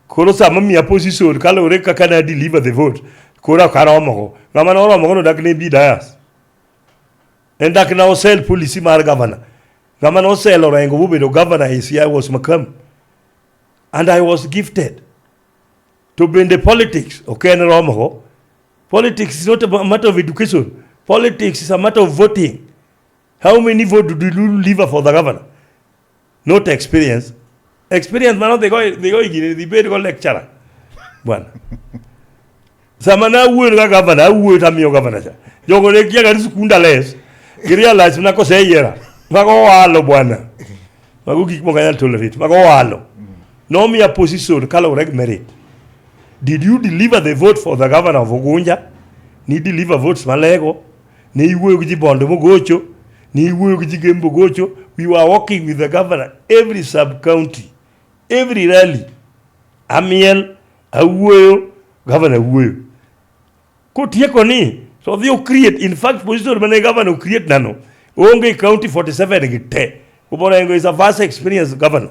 koro sama miya position kaluwore kaka na deliver the vote koro ok aromogo ng'ama noromogo nodak ne bi dayas en dak na osel policy mar governor ng'ama nosel orengo bobedo governor is i was makam and i was gifted to bende politics ok en romogo politics is not a matter of education politics is a matter of voting how many vote do you deliver for the governor not experience experience mano dhigo dhigo higini dhi bed go lecturer bwana sama na wuoyo ka gavana awuoyo to amiyo gavana cha jogo ne kia gari sikunda les girealize na koseyiera mago walo bwana mago gik moko anyal tolerate mago walo nomiya position kaluwore gi merit did you deliver the vote for the governor of Ugunja ni deliver votes malego ne iwuoyo gi ji Bondo mogocho, ne iwuoyo gi ji Gembo mogocho. We were working with the governor every sub county, every rally. Amiel, awuoyo, governor awuoyo. Kotieko ni to odhi create in fact position mane governor create nano onge county 47 gi te. Ubora Engo is a vast experience governor.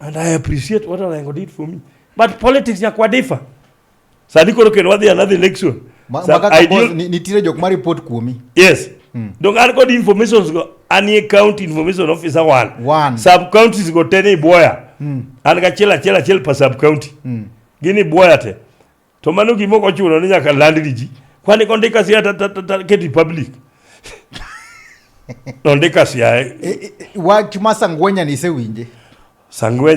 And I appreciate what Orengo did for me. But politics ya kwa difa. Sadi koro kendo wadhi another election. Ma, so maka ideal... nitire jok ma report kuomi. Yes. Mm. Donc an kod informations go anie county information officer one. One. Sub counties go tene iboya. Mm. An ka chela chela chel pa sub county. Mm. Gini boya te. To mano gima ok ochuno ni nyaka land gi ji. Kwani kondika sia ta ta ta keti public. Nondika sia. E, e, e, wach ma Sangwenya ni sewinje. Sangwenya